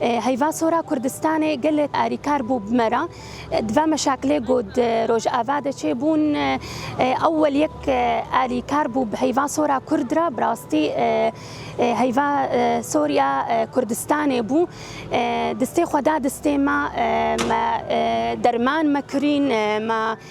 Heyva sora Kurdistanê gelek arîkar bû bi me re. Di ve meşakilê ku di Rojava de çêbûn ewwel yek arîkar bû bi heyva sora Kurd re bi rastî heyva Soriya Kurdistanê bû. Distê xwe da distê me me derman me kirîn me